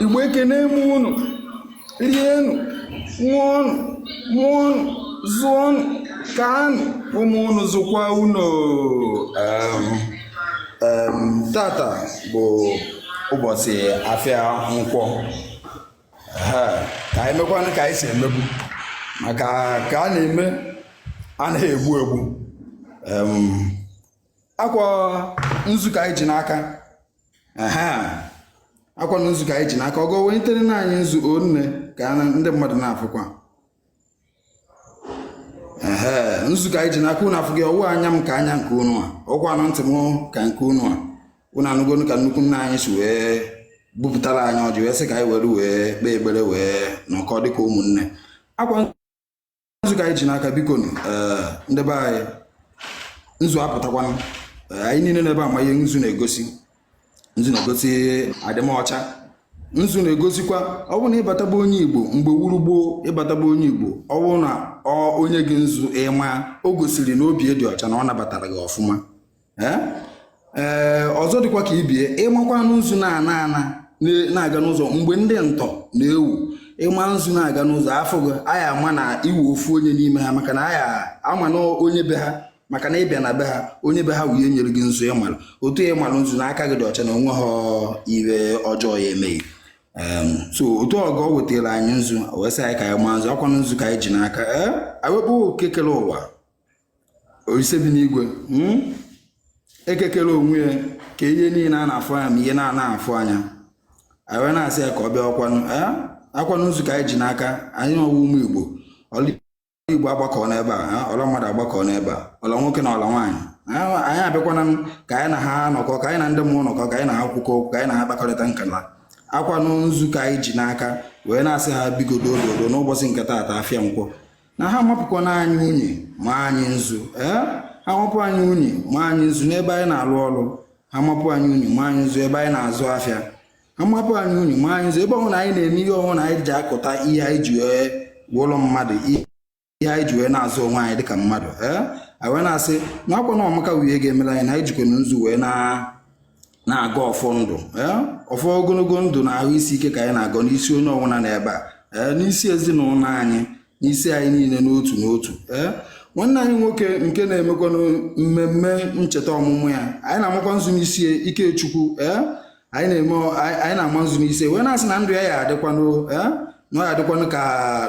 igbo ekene m unu rienụ ṅụọnụ mụọnụ zụọnụ kaanụ ụmụ unu zụkwa unu tata bụ ụbọchị afịa nkwọ ka anyị mekwanụ ka anyị si emebu maka ka a na-eme anaghị egbu egbu akwa nzu ka anyị ji n'aka akwanụ nzu ka anyị ji n'aka ọgọọ weterenụ anyị nzu o nne ka ndị mmadụ na-afụkwa ee nzu ka anyị ji n'aka unu afụgo ọ wụ anya m ka anya nke unu a ọkwanụ ntị m ka nke unu a unu anụgonụ ka nnukwu nna anyị si wee bupụtara anyị ọjị wee sị ka anyị were wee kpee ekpere wee nọkọ dịka ụmụnne akwa nzu ka anyị ji n'aka biko eh, ndị be anyị nzu apụtakwana eh, anyị niile n'ebe a ma ihe nzu na-egosi nzu na-egosi adịmọcha nzu na-egosikwa ọ bụrụ na ị bata be onye igbo mgbe wụrụ gboo ị bata be onye igbo ọ bụrụ na o nye gị nzu ị maa o gosiri na obi ya dị ọcha na ọ nabatara gị ọfụma ee ọzọ dịkwa ka ibe ya ị makwanụ nzu na-ana ana na-aga n'ụzọ mgbe ndị ntọ na-ewu ị ma nzu na-aga n'ụzọ a fụ gị a ya-ama na ị wụ ofu onye n'ime ha maka na a ya-ama na onye be ha maka na ị bịa na be ha onye be ha wụ onye nyere gị nzu ị malụ otu a ị malụ nzu na aka gị dị ọcha na o nwehọ ihe ọjọọ ya-eme gị so otu ọgọọ wetara anyị nzu wee sị anyị ka anyị maa nzu akwa nzu ka anyị ji n'aka ee a wee kpọọ eke kele ụwa Olise bi n'igwe hmm? eke kere onwe ya kee ihe niile a na-afụ anya ma ihe na-ana afụ anya anyị wee na-asị ya ka ọ bịa ọkwanụ eh? akwanụ nzu ka anyị ji n'aka anyị wụ ụmụ Igbo ọla Igbo agbakọ n'ebe a eh? ọla mmadụ agbakọ n'ebe a ọla nwoke na ọla nwaanyị eh? anyị abịakwana ka anyị na ha nọkọ ka anyị na ndị mmụọ nọkọ ka anyị na ha kwukọ okwu ka anyị na ha kpakọrịta nkata akwanụ nzu ka anyị ji n'aka wee na-asị ha biko doo doo doo n'ụbọchị nke taata afịa nkwọ na ha mapụkwanụ anyị unyi ma anyị nzu ee eh? ha mapụ anyị unyi ma anyị nzu n'ebe anyị na-alụ ọrụ ha mapụ anyị unyi ma anyị nzu ebe anyị na-azụ afịa ha mapụ anyị unyi ma anyị nzu ebe ọwụna anyị na-eme ihe ọwụna anyị ji akụta ihe anyị ji wee wụlụ mmadụ ihe anyị ji wee na-azụ onwe anyị dịka mmadụ ee eh? anyị wee na-asị na akwa na ọmaka wụ ihe ga-emere anyị na anyị jikwanụ nzu wee na na-agọ ọfọ ndụ ọfọ ogologo ndụ na ahụ isi ike ka anyị na-agọ n'isi onye ọbụla n'ebe a n'isi ezinụlọ anyị n'isi anyị niile n'otu n'otu ee nwanne anyị nwoke nke na-emekwanụ mmemme ncheta ọmụmụ ya anyị na-amakwa nzu n'isi ya Ikechukwu ee anyị na-ama nzu n'isi wee na-asị na ndụ ya ya-adịkwanụ ee na ọ ya adịkwanụ ka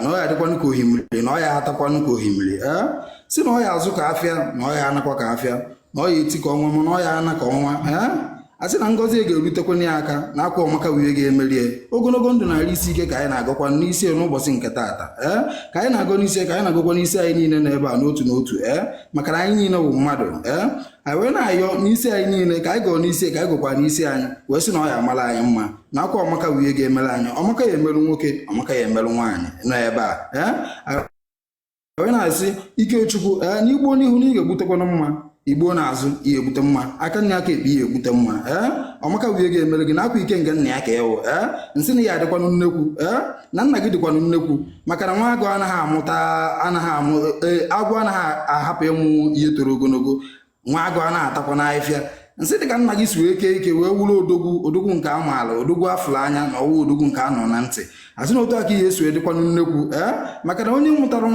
na ọ ya adịkwanụ ka ohimiri na ọ ya atakwanụ ka ohimiri ee eh? si na ọ ya azụ ka afịa na ọ ya anakwa ka afịa na ọ ya eti ka ọnwa mana ọ ya ana ka ọnwa ee eh? a sị na ngọzi e ga-erutekwana ya aka na ọ kwa ọmaka wụ ihe ga-emere ya ogologo ndụ na arụ isi ike ka anyị na-agọkwa n'isi n'ụbọchị nke taata ee eh? ka anyị na-agọ n'isi ka anyị na-agọkwa n'isi anyị niile n'ebe a n'otu n'otu ee maka na anyị niile bụ mmadụ ee anyị wee na-ayọ n'isi anyị niile ka anyị gọọ n'isi ka anyị gọkwa n'isi anyị wee sị na ọ ya amara anyị mma na ọ kwa ọmaka wụ ihe ga-emere anyị ọmaka ya emeru nwoke ọmaka ya emeru nwaanyị nọ ebe a ee wee na-asị ikechukwu ee na i gbuo n'ihu na ị ga-egbutekwana mma i gbuo n'azụ ị ya egbute mma aka nni aka ekpe ị ya egbute mma ee ọmaka wụ ihe ga-emere gị na ọ kwa ikenga nna ya ka ị wụ ee m sị na ị ya adịkwanụ nnekwu ee na nna gị dịkwanụ nnekwu maka na nwa agụ anaghị amụta anaghị amụ e, agwọ anaghị ahapụ ịmụ ihe toro ogologo nwa agụ anaghị atakwanụ afịfịa m sị dị ka nna gị si wee kee ike wee wụrụ odogwu odogwu nke a maala odogwu a fụrụ anya na ọwụ odogwu nke a nụ na ntị asị na otu a ka ị ya esi wee dịkwanụ nnekwu ee eh? maka na onye mụtara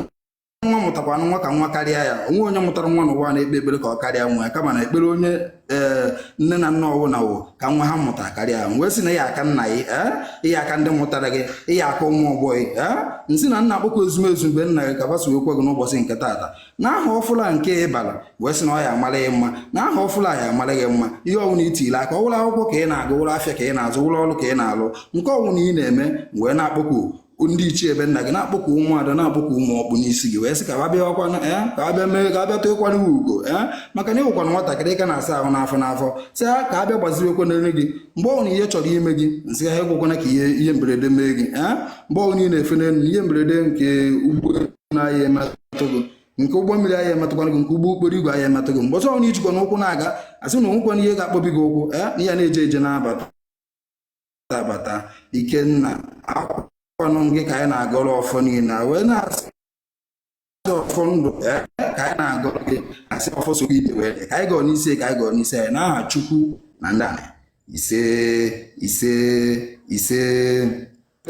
nwa mụtakwanụ nwa ka nwa karịa ya o nwee onye mụtara nwa n'ụwa na-ekpe ekpere ka ọ karịa nwa ya kama na ekpere onye ee eh, nne na nna ọwụla wụ ka nwa ha mụta karịa ya wee sị na ị ya aka nna gị ee eh? ị ya aka ndị mụtara gị ị ya aka ụmụ ọgbọ gị ee m sị na m na-akpọku ezumezu ebe nna gị ka gbaso ekwe gị n'ụbọchị nke taata na aha ọfụrụ a nke ị bara wee sị na ọ ya amara gị mma na aha ọfụrụ a ya amara gị mma ihe ọbụla i tiri aka ọwụrụ akwụkwọ ka ị na-agụ wụrụ afịa ka ị na-azụ wụrụ ọrụ ka ị na-alụ nke ọbụla ị na-eme wee na-akpọku ndị ichie ebe nna gị na-akpọku ụmụada na-akpọku ụmụ ọkpụ n'isi gị wee sị ka ha bịa ọkwanụ ee eh, ka ha bịa mee ka ha bịa tụkwara gị ugo ee eh, maka na ị wụkwanụ nwatakịrị ka na-asa ahụ n'afọ n'afọ sị ha ka ha bịa gbazirekwa n'elu gị mgbe ọbụla ihe chọrọ ime gị m sị ha ekwekwana ka ihe ihe mberede mee gị ee eh, mgbe ọbụla ị na-efe n'elu ihe mberede nke ụgbọelu na a ya emetụ gị nke ụgbọ mmiri a ya emetụkwana gị nke ụgbọ okporo igwe a ya emetụ gị mgbe ọbụla i jikwanụ ụkwụ na-aga asị na onwekwana ihe ga-akpọbi gị ụkwụ ya na ị ya na-eje eje na-abata abata ikenna ọ kwanụ gị ka anyị na-agọrọ ọfọ niile wee na-asị ọfọ ndụ ka anyị na-agọrọ gị asị ọfọ so gị ije wee ka anyị gọọ n'isi ka anyị gọọ n'isi anyị n'aha chukwu na ndị ise ise ise